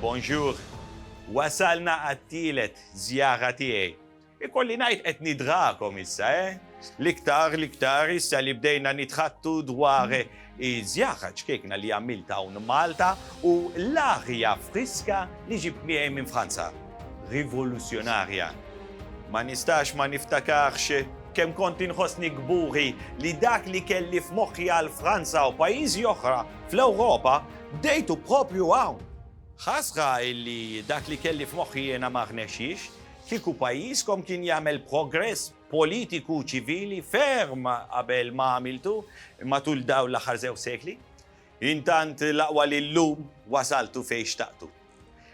Bonjour! Wasalna għat-tielet żjara tiegħi. Ikolli ngħid qed nidgħakom issa, eh? L-iktar, l-iktar issa li bdejna nitħaddtu dwar Hi żjaħħa ċkejkna li għamilt hawn Malta u l-aħja friska li ġibt miegħi minn Franza. Rivoluzzjonarja. Ma nistax ma niftakarx kemm kont inħossni kburi li dak li kelli f'moħħi għal Franza u pajjiżi oħra fl-Ewropa bdejtu propju hawn. Ħasra illi dak li kelli f'moħħi jiena ma rnexxiex, kieku pajjiżkom kien jagħmel progress politiku ċivili ferm qabel ma għamiltu matul dawn l-aħħar żewġ sekli. Intant l-aqwa li llum wasaltu fejn xtaqtu.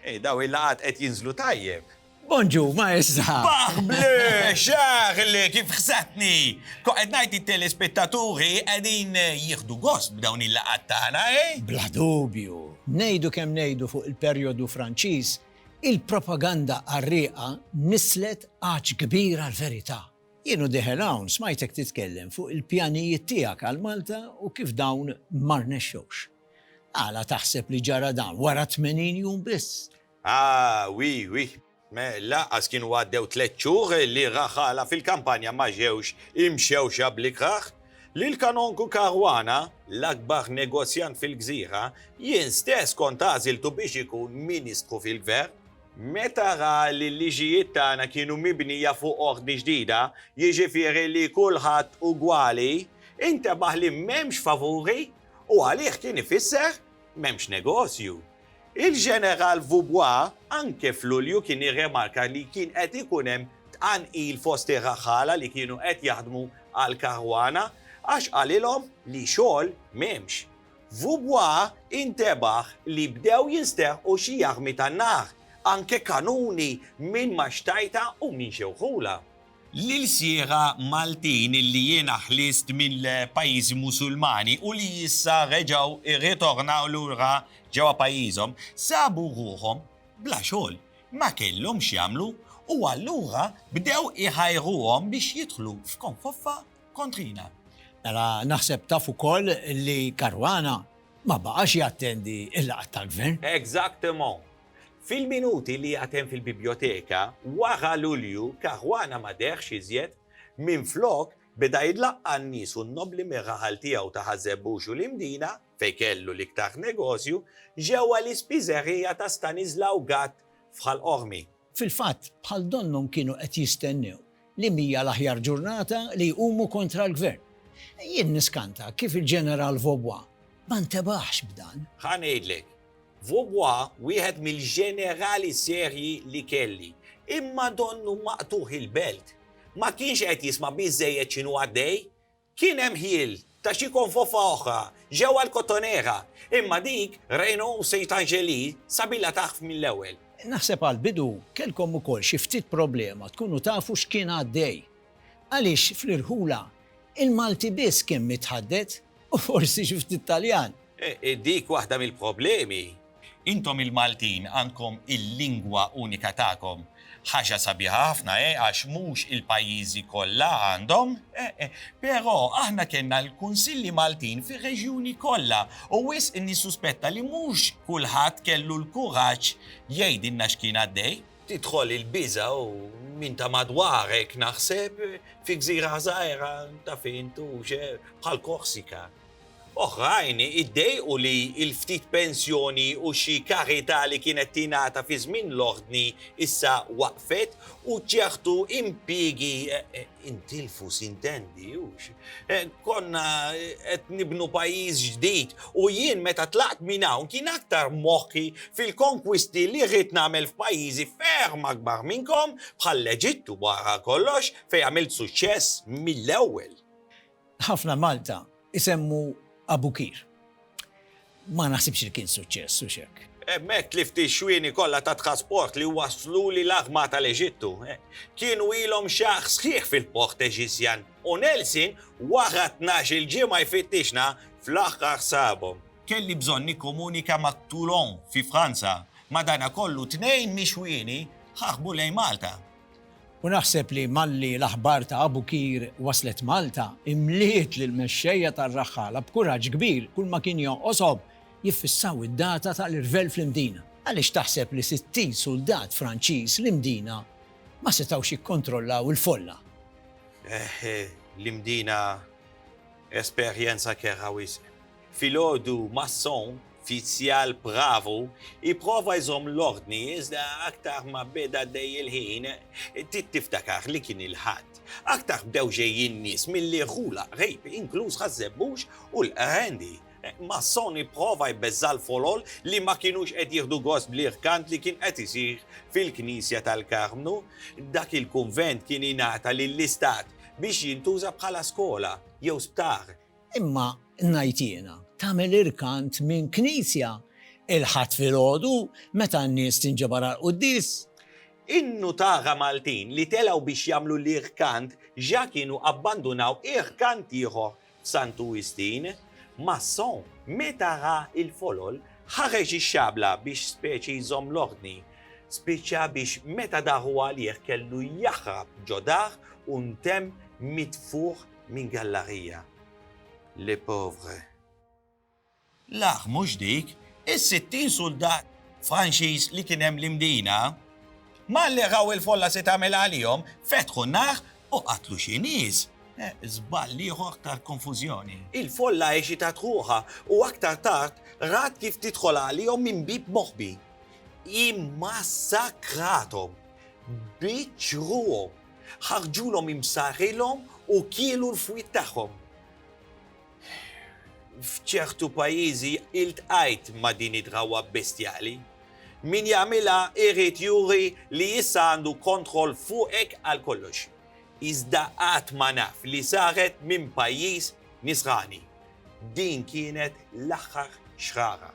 Ej, dawn il-laqgħat qed jinżlu tajjeb. Bonġu, maestra! Baħ blu, xaħl, kif ħsatni! Kont qed ngħid it-telespettaturi qegħdin jieħdu gost b'dawn il-laqgħat tagħna, eh? Bla dubju. Ngħidu kemm ngħidu fuq il-perjodu Franċiż, Il-propaganda qarrieqa nisslet għatx kbir għall-verità. Jien u Dieħel hawn smajtek titkellem fuq il-pjanijiet tiegħek għal Malta u kif dawn ma rnexxewx. Għala taħseb li ġara dan wara 80 jum biss? Ah, wi, wi. Lanqas kienu għaddew tliet xhur li raħala fil-kampanja ma ġewx imxewxa bl-ikrah. li l-Kanonku Caruana, l-akbar negozjant fil-gżira, jien stess kont għażiltu biex ikun Ministru fil-Gvern. Meta ra li l-liġijiet tagħna kienu mibnija fuq ordni ġdida, jiġifieri li kulħadd ugwali, intebaħ li m'hemmx favuri u għalih kien ifisser m'hemmx negozju. Il-Ġeneral Vaubois anke f'Lulju kien irremarka li kien qed ikun hemm tqanqil fost ir-raħħala li kienu qed jaħdmu għall-Caruana għax qalilhom li xogħol m'hemmx. Vaubois intebaħ li bdew jinsterqu xi armi tan-nar, anke kanuni minn Maxtajta u minn Xewħula. L-ilsieqa Maltin li jiena ħlist mill-pajjiżi Musulmani u li issa reġgħu rritornaw lura ġewwa pajjiżhom, sabu ruħhom bla xogħol, ma kellhom x'jagħmlu u allura bdew iħajruhom biex jidħlu f'konfoffa kontrina. Mela naħseb taf ukoll li Caruana ma baqax jattendi l-laqgħat tal-Gvern. Exactement. Fil-minuti li għad hemm fil-bibjoteka wara Lulju, Caruana ma dehx iżjed, minflok beda jlaqqa' n-nies u n-nobbli mir-raħal tiegħu ta' Ħaż-Żebbux u l-Imdina, fejn kellu l-iktar negozju, ġewwa l-ispiżerija ta' Stanislaw Gatt f'Ħal Qormi. Fil-fatt, bħal donnhom kienu qed jistennew Li mhija l-aħjar ġurnata li jqumu kontra l-Gvern. Jien niskanta kif il-Ġeneral Vaubois ma ntebaħx b'dan. Ħa ngħidlek. Vaubois wieħed mill-ġenerali serji li kelli. Imma donnu maqtugħ il-belt. Ma kienx qed jisma' biżżejjed x'inhu għaddej. Kien hemm ħjiel ta' xi konfofa oħra ġewwa l-Cotonera, imma dik Renault Saint-Angelii sabilha tagħrf mill-ewwel. Naħseb għall-bidu kellkom ukoll xi ftit problema tkunu tafu x'kien għaddej. Għaliex fl-irħula, il-Malti biss kien mitħadded u forsi xi ftit Taljan. Dik waħda mill-problemi. Intom il-Maltin għandkom il-lingwa unika tagħkom. Ħaġa sabiħa ħafna, eh, għax mhux il-pajjiżi kollha għandhom. Eh, eh, però aħna kellna l-Kunsilli Maltin fir-reġjuni kollha u wisq nissuspetta li mhux kulħadd kellu l-kuraġġ jgħidilna x'kien għaddej. Tidħol il-biża' u min ta' madwarek naħseb fi gżira żgħira, taf int, u xe, bħal Korsika. Oħrajn iddejqu li l-ftit pensjoni u xi karità li kienet tingħata fi żmien l-Ordni issa waqfet u ċertu impjiegi intilfu, sintendi, hux? Konna qed nibnu pajjiż ġdid u jien meta tlaqt minn hawn kien aktar moħħi fil-konkwisti li rrid nagħmel f'pajjiżi ferm akbar minnkom bħall-Eġittu wara kollox fejn għamilt suċċess mill-ewwel. Ħafna Malta isemmu Abukir. Ma naħsibx li kien suċċess, hux hekk? Hemmhekk tlift ix-xwieni kollha tat-trasport li wasslu li l-arma tal-Eġittu. Kienu ilhom xahar sħiħ fil-port Eġizzjan u Nelson wara tnax-il ġimgħa jfittixna fl-aħħar sabhom. Kelli bżonn nikkomunika ma' Toulon fi Franza. Madanakollu tnejn mix-xwieni ħarbu lejn Malta. U naħseb li malli l-aħbar ta' Abu Qir waslet Malta, imliet lill-mexxejja tar-raħħala b'kuraġġ kbir kulma kien jonqoshom jiffissaw id-data tal-irvell fl-Imdina. Għaliex taħseb li sittin suldat Franċiż l-Imdina ma setgħux jikkontrollaw il-folla? Eħħ, l-Imdina esperjenza kerha wisq. Filgħodu Masson, fizzjal bravu, ipprova jżomm l-ordni iżda aktar ma beda għaddej il-ħin, Titt tiftakar li kien il-Ħadd, aktar bdew ġejjin nies milli rħula qrib, inkluż Ħaż-Żebbux u l-Qrendi. Masson ipprova jbeżża' l-folol li ma kinux qed jieħdu gost bl-irkant li kien qed isir fil-knisja tal-Karmnu. Dak il-kunvent kien ingħata lill-Istat biex jintuża bħala skola jew sptar Imma ngħid jiena, tagħmel irkant minn knisja il-Ħadd filgħodu meta n-nies tinġabar għall-quddies? In-nutaga Maltin li telgħu biex jagħmlu l-irkant ġa kienu abbandunaw irkant ieħor f'Santu Wistin. Masson, meta ra l-folol, ħareġ ix-xabla biex speċi jżomm l-ordni. Spiċċa biex meta daħu għalih kellu jaħrab ġo dar u ntemm mitfugħ Min gallarija? Le pauvre. L-aħ mhux dik, is-sittin suldat Franċiż li kien hemm l-Imdina, malli raw il-folla se tagħmel għalihom, fetħu n-nar u qatlu xi nies. Eh, żball ieħor tal-konfużjoni. Il-folla eċitat ruħha u aktar tard rat kif tidħol għalihom minn bib moħbi. Immassakrathom. Biċċruhom. ħarġulhom imsarrilhom u kielu l-fwied tagħhom. F'ċertu pajjiżi iltqajt ma' din id-drawwa bestjali. Min jagħmilha jrid juri li issa għandu kontroll fuqek għal kollox. Iżda qatt ma naf li saret minn pajjiż nisrani. Din kienet l-aħħar xrara.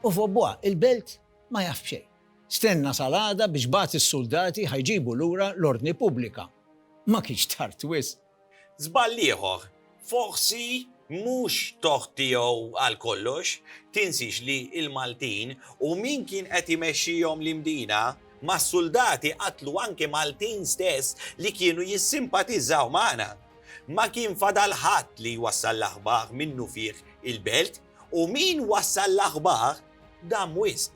U f'Obwa, il-belt ma jaf b'xejn. Stenna sal-għada biex bagħat is-suldati ħa jġibu lura l-ordni pubblika. Ma kienx tard wisq. Żball ieħor, forsi mhux tort tiegħu għal kollox, tinsiex li l-Maltin u min kien qed imexxihom l-Imdina mas-suldati qatlu anke Maltin stess li kienu jissimpatiżżaw magħna. Ma kien fadal ħadd li jwassal l-aħbar minnufih il-belt u min wassal l-aħbar dam wisq.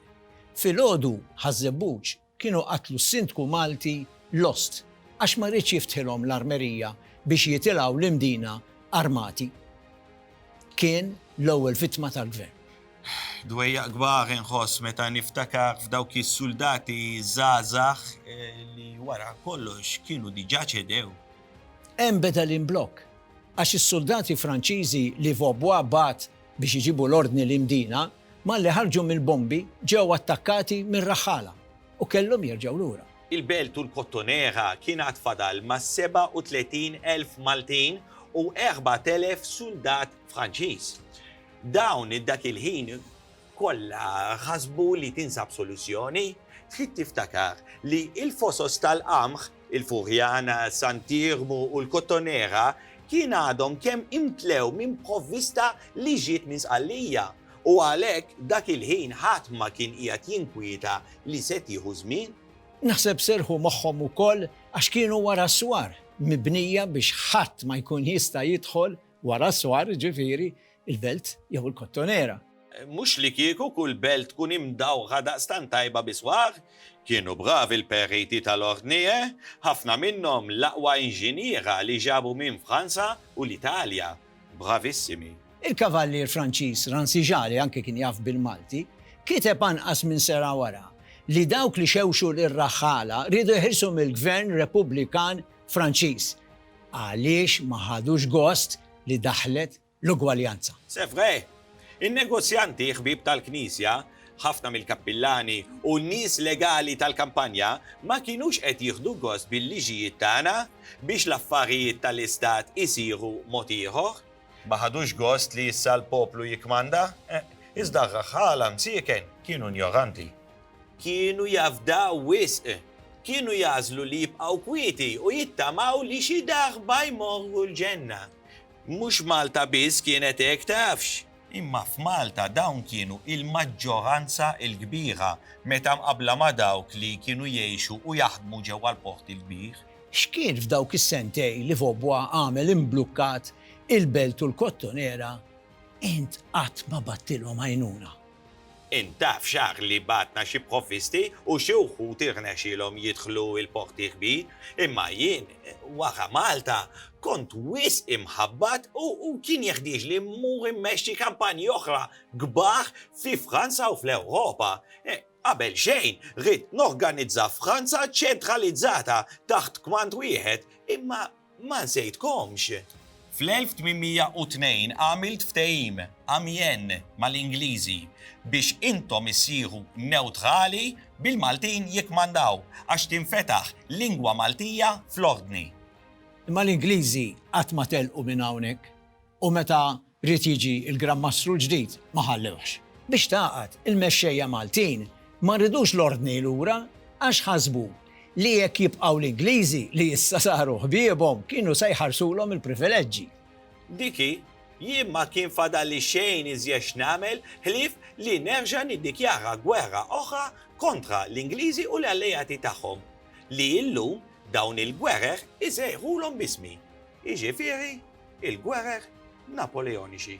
Filgħodu Ħaż-Żebbuġ kienu qatlu s-Sindku Malti Lost għax ma riedx jiftħilhom l-armerija biex jitilgħu l-Imdina armati. Kien l-ewwel vittma tal-Gvern. Dwejjaq kbar inħoss meta niftakar f'dawk is-suldati żgħażagħ li wara kollox kienu diġà ċedew. Hemm beda l-imblokk għax is-suldati Franċiżi li Vaubois bagħat biex iġibu l-ordni li Mdina, malli ħarġu mill-bombi, ġew attakkati minn raħħala u kellhom jerġgħu lura. Il-Belt u l-Kottonera kien għad fadal ma' 37,000 Maltin u 4,000 suldat Franċiż. Dawn dak il-ħin kollha ħasbu li tinsab soluzzjoni. Trid tiftakar li l-fosos tal-qamħ Il-Furjana, Sant'Iermu u l-Kottonera kien għadhom kemm imtlew minn provvista li ġiet minn Sqallija u għalhekk dak il-ħin ħadd ma kien qiegħed jinkwieta li se tieħu żmien. Naħseb serrħu moħħhom ukoll għax kienu wara s-swar, mibnija biex ħadd ma jkun jista' jidħol, Wara s-swar, ġifieri, il-belt jew il-kottonera. Mhux li kieku kull belt tkun imdawħa daqstant tajba bi swar. Kienu bravi l-periti tal-Ordnie, ħafna minnhom l-aqwa inġiniera li ġabu minn Franza u l-Italja. Bravissimi. Il-kavallier Franċiż Rancijalle anki kien jaf bil-Malti, kiteb anqas minn sena wara li dawk li xewxu lir-raħħala riedu jeħilsu mill-Gvern Repubblikan Franċiż, għaliex ma ħadux gost li daħlet l-ugwaljanza? C'est vrai! In-negozjanti ħbieb tal-Knisja, ħafna mill-kappillani u n-nies legali tal-kampanja ma kinux qed jieħdu gost bil-liġijiet tagħna biex l-affarijiet tal-Istat isiru mod ieħor. Ma ħadux gost li issa l-poplu jikkmanda? Eħ, iżda r-raħħala msieken kienu injoranti. Kienu jafdaw wisq. Kienu jagħżlu li jibqgħu kwieti u jittamaw li xi daħba jmorru l-ġenna. Mhux Malta biss kienet hekk tafx. Imma f'Malta dawn kienu il-maġġoranza l-kbira meta mqabbla ma' dawk li kienu jgħixu u jaħdmu ġewwa l-Port il-Kbir. X'kien f'dawk is-sentej li Vaubois għamel imblukkat il-Belt u l-Kottonera int qatt ma battilhom għajnuna? Int taf x'għaqli bagħatna xi provvisti u xi wħud irnexxielhom jidħlu l-Porti Kbir, imma jien, wara Malta, kont wisq imħabbat u kien jeħtieġli mmur immexxi kampanji oħra kbar fi Franza u fl-Ewropa. Qabel xejn, ridt norganizza Franza ċentralizzata taħt kmand wieħed, imma Ma nsejtkomx! Fl-1802 għamilt ftehim, Amiens, mal-Ingliżi biex intom issieħu newtrali bil-Maltin jikkmandaw, għax tinfetaħ lingwa Maltija fl-Ordni. Imma l-Ingliżi qatt ma telqu minn hawnhekk u meta Ried jiġi l-Gran Mastru l-ġdid, ma ħallewhx. Biex tagħqad, il-mexxejja Maltin ma ridux l-Ordni lura għax ħasbu li jekk jibqgħu l-Ingliżi li issa saru ħbiebhom kienu se jħarsulhom il-privileġġi. Diki, jien ma kien fadalli xejn iżjed x'nagħmel ħlief li nerġa' niddikjara gwerra oħra kontra l-Ingliżi u l-alleati tagħhom, li illum dawn il-gwerer isejħulhom b'ismi, jiġifieri, il-gwerer Napoleonixi.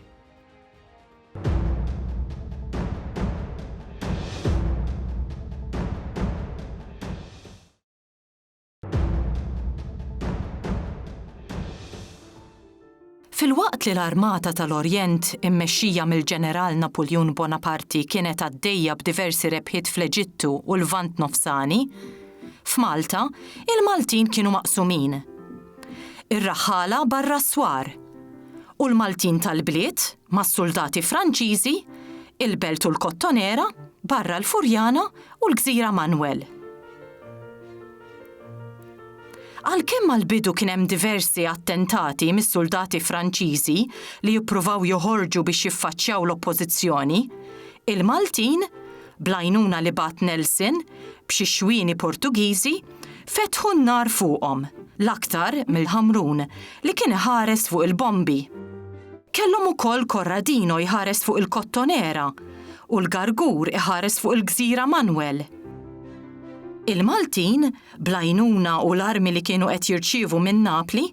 Filwaqt li l-Armata tal-Orjent, immexxija mill-Ġeneral Napoleon Bonaparte, kienet għaddejja b'diversi rebħiet fl-Eġittu u l-Lvant Nofsani, f'Malta, il-Maltin kienu maqsumin. Ir-raħħala barra s-swar. U l-Maltin tal-bliet, mas-suldati Franċiżi, il-belt u l-kottonera, barra l-Furjana u l-gżira Manwel. Għalkemm għall-bidu kien hemm diversi attentati mis-suldati Franċiżi li jippruvaw joħorġu biex jiffaċċjaw l-oppożizzjoni, il-Maltin, bl-għajnuna li bagħat Nelson, b'xi xwieni Portugiżi, Fetħu n-nar fuqhom, l-aktar mill-Ħamrun li kien iħares fuq il-bombi. Kellhom ukoll Corradino jħares fuq il-Kottonera u l-Gargur iħares fuq il-Gżira Manwel. Il-Maltin, bl-għajnuna u l-armi li kienu qed jirċievu minn Napli,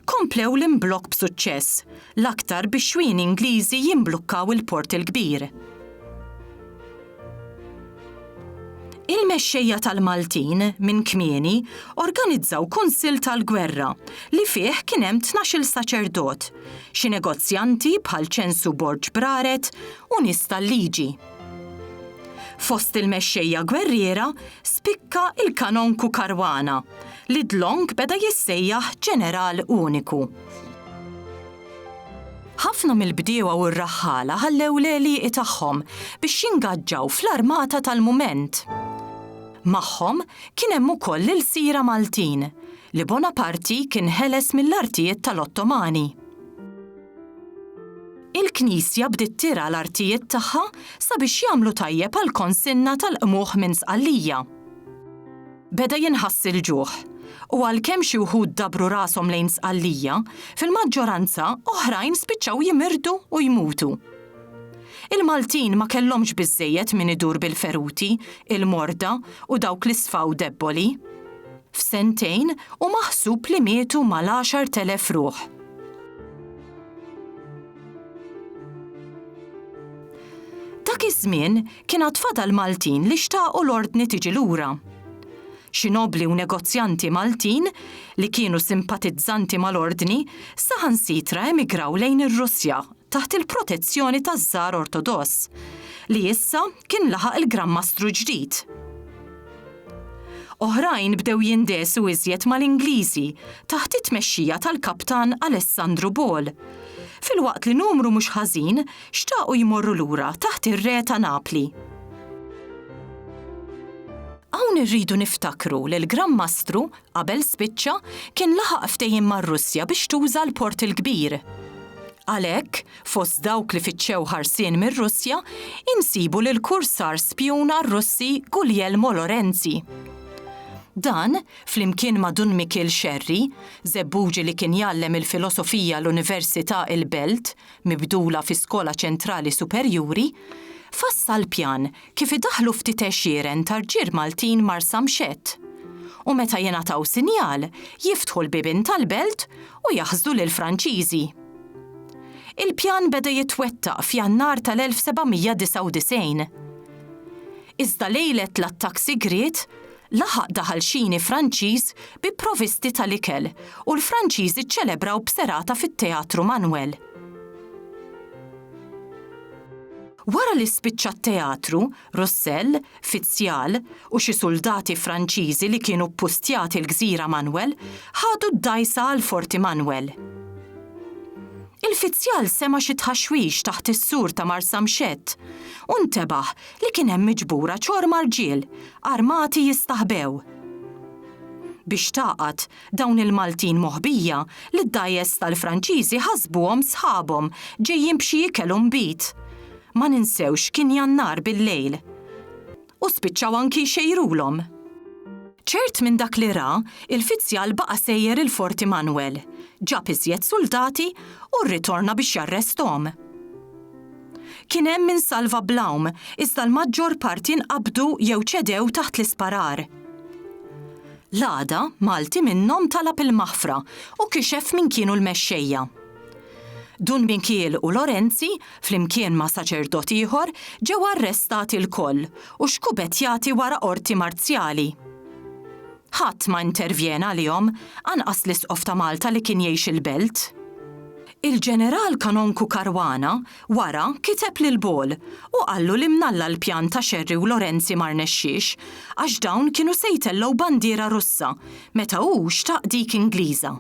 komplew l-imblokk b'suċċess, l-aktar bix-xwieni Ingliżi jimblukkaw il-Port il-Kbir. Il-mexxejja tal-Maltin minn kmieni organizzaw kunsill tal-gwerra li fih kien hemm tnax-il saċerdot, xi negozjanti bħal Ċensu Borg Braret u nies tal-liġi. Fost il-mexxejja gwerriera spikka il-Kanonku Caruana li dlonk beda jissejjaħ Ġeneral Uniku. Ħafna mill-bdiewa u r-raħħala ħallew l-għelieqi tagħhom biex jingaġġaw fl-armata tal-mument. Magħhom kien hemm ukoll l-ilsira Maltin, li Bonaparti kien ħeles mill-artijiet tal-Ottomani. Il-Knisja bdiet tirgħa l-artijiet tagħha sabiex jagħmlu tajjeb għall-konsinna tal-qmugħ minn Sqallija. Beda jinħass il-ġuħ, u għalkemm xi wħud dabru rashom lejn Sqallija, fil-maġġoranza oħrajn spiċċaw jimirdu u jmutu. Il-Maltin ma kellhomx biżżejjed min idur bil-feruti, il-morda u dawk li sfaw debboli. F'sentejn hu maħsub li mietu mal-għaxart elef ruħ. Dak iż-żmien Kien għad fadal Maltin li xtaqu l-ordni tiġi lura. Xi nobbli u negozjanti Maltin, li kienu simpatizzanti mal-ordni, saħansitra emigraw lejn ir-Russja taħt il-protezzjoni taż-Żar Ortodoss, li issa kien laħaq il-Gran Mastru ġdid. Oħrajn bdew jindesu iżjed mal-Ingliżi taħt it-tmexxija tal-Kaptan Alessandru Ball, filwaqt li numru mhux ħażin Xtaqu jmorru lura taħt ir-re ta' Napli. Hawn irridu niftakru li l-Gran Mastru, qabel spiċċa, kien laħaq ftehim mar-Russja biex tuża l-Port il-Kbir. Għalhekk, fost dawk li fittxew ħarsien mir-Russja, insibu lill-kursar spjun għar-Russi Guglielmo Lorenzi. Dan, flimkien ma' Dun Mikiel Xerri, żebbuġi li kien jgħallem il-filosofija l-Università il-Belt, mibdula fi skola ċentrali superjuri, fassal pjan kif idaħħlu ftit għexieren ta' rġiel Maltin Marsamxett u meta jingħataw sinjal jiftħu l-bibien tal-belt u jaħsdu lill-Franċiżi. Il-pjan beda jitwettaq f'Jannar tal-1799. Iżda lejlet l-attakk sigriet Laħaq daħalxini Franċiż bi provisti tal-ikel u l-Franċiżi ċċelebraw b'serata fit-Teatru Manuel. Wara li spiċċa t-teatru, Russell, fizzjal, u xi suldati Franċiżi li kienu ppustjati l-gżira Manuel ħadu d-dgħajsa għal Forti Manuel. Il-fizzjal sema' xi tħaxwix taħt is-sur ta' Marsamxett u ntebaħ li kien hemm miġbura ċorma rġiel armati jistaħbew biex tagħqad dawn il-Maltin moħbija li d-dgħajjes tal-Franċiżi ħasbuhom sħabhom ġejjin b'xi ikel u nbid. Ma ninsewx kien Jannar bil-lejl. U spiċċaw anki jxejrulhom. Ċert minn dak li ra, il-fizzjal baqa' sejjer il-Fort Immanuel, ġab iżjed suldati u rritorna biex jarresthom. Kien hemm min salva bl-għawm, iżda l-maġġor parti nqabdu jew ċedew taħt l-isparar. L-għada, Malti minnhom talab il-maħfra u kixef min kienu l-mexxejja. Dun Mikiel u Lorenzi, flimkien ma' saċerdot ieħor, ġew arrestati lkoll u xkubetjati wara qorti marzjali. Ħadd ma intervjena għalihom, anqas l-Isqof ta' Malta li kien jgħix il-belt. Il-Ġeneral Kanonku Caruana wara kiteb lil Ball u qallu li mnalla l-pjan ta' Xerri u Lorenzi ma rnexxiex għax dawn kienu se jtellgħu bandiera Russa meta hu xtaq dik Ingliża.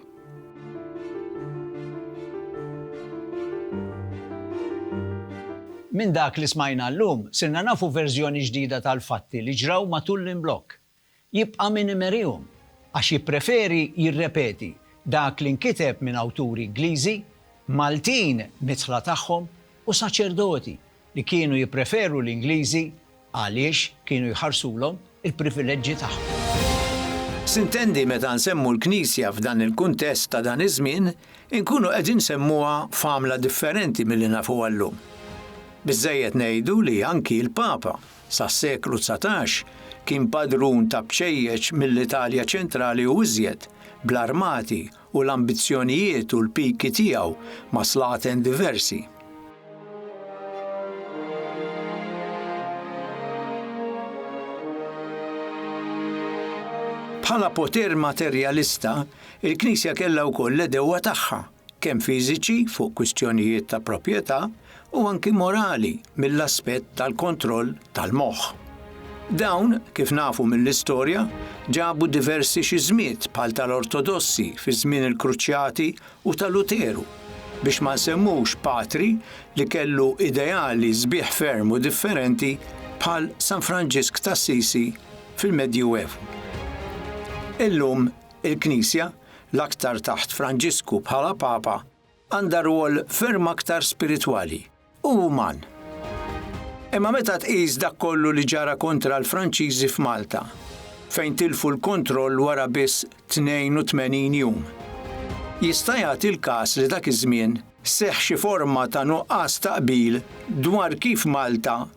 Minn dak li smajna llum, sirna nafu verżjoni ġdida tal-fatti li ġraw matul l-imblokk. Jibqa' min imerihom, għax jippreferi jirrepeti dak li nkiteb minn awturi Ingliżi, Maltin midħla tagħhom u saċerdoti li kienu jippreferu l-Ingliżi għaliex kienu jħarsulhom il-privileġġi tagħhom. Sintendi meta nsemmu l-Knisja f'dan il-kuntest ta' dan iż-żmien, inkunu qegħdin nsemmuha f'għamla differenti milli nafuha llum. Biżżejjed ngħidu li anki l-Papa Sas-seklu dsatax kien padrun ta' bċejjeċ mill-Italja ċentrali u iżjed, bl-armati u l-ambizzjonijiet u l-piki tiegħu ma' slaten diversi. Bħala poter materjalista, il-Knisja kellha wkoll l-għedewwa tagħha. kemm fiżiċi fuq kwistjonijiet ta' proprjetà u anki morali mill-aspett tal-kontroll tal-moħħ. Dawn, kif nafu mill-istorja, ġabu diversi xiżmiet bħal tal-Ortodossi fi żmien il-Kruċjati u ta' Luteru, biex ma nsemmux patri li kellu ideali sbieħ ferm u differenti bħal San Franġisk t'Assisi fil-Medjuevu. Illum il-Knisja l-aktar taħt Franġisku bħala Papa, għandha rwol ferm aktar spiritwali u uman. Imma meta tqis dak kollu li ġara kontra l-Franċiżi f'Malta, fejn tilfu l-kontroll wara biss 82 jum, jista' jagħti l-każ li dak iż-żmien seħħ xi forma ta' nuqqas ta' qbil dwar kif Malta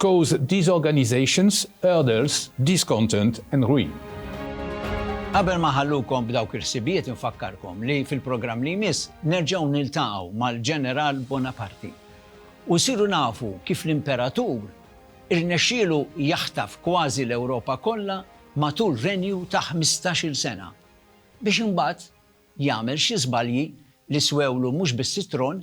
Cause disorganizations, hurdles, discontent and ruin. Qabel ma nħallukom b'dawk il-ħsibijiet infakkarkom li fil-programm li jmiss nerġgħu niltaqgħu mal-Ġeneral Bonaparte u nsiru nafu kif l-Imperatur irnexxielu jaħtaf kważi l-Ewropa kollha matul renju ta' ħmistax-il sena biex imbagħad jagħmel xi żbalji li swewlu mhux biss it-tron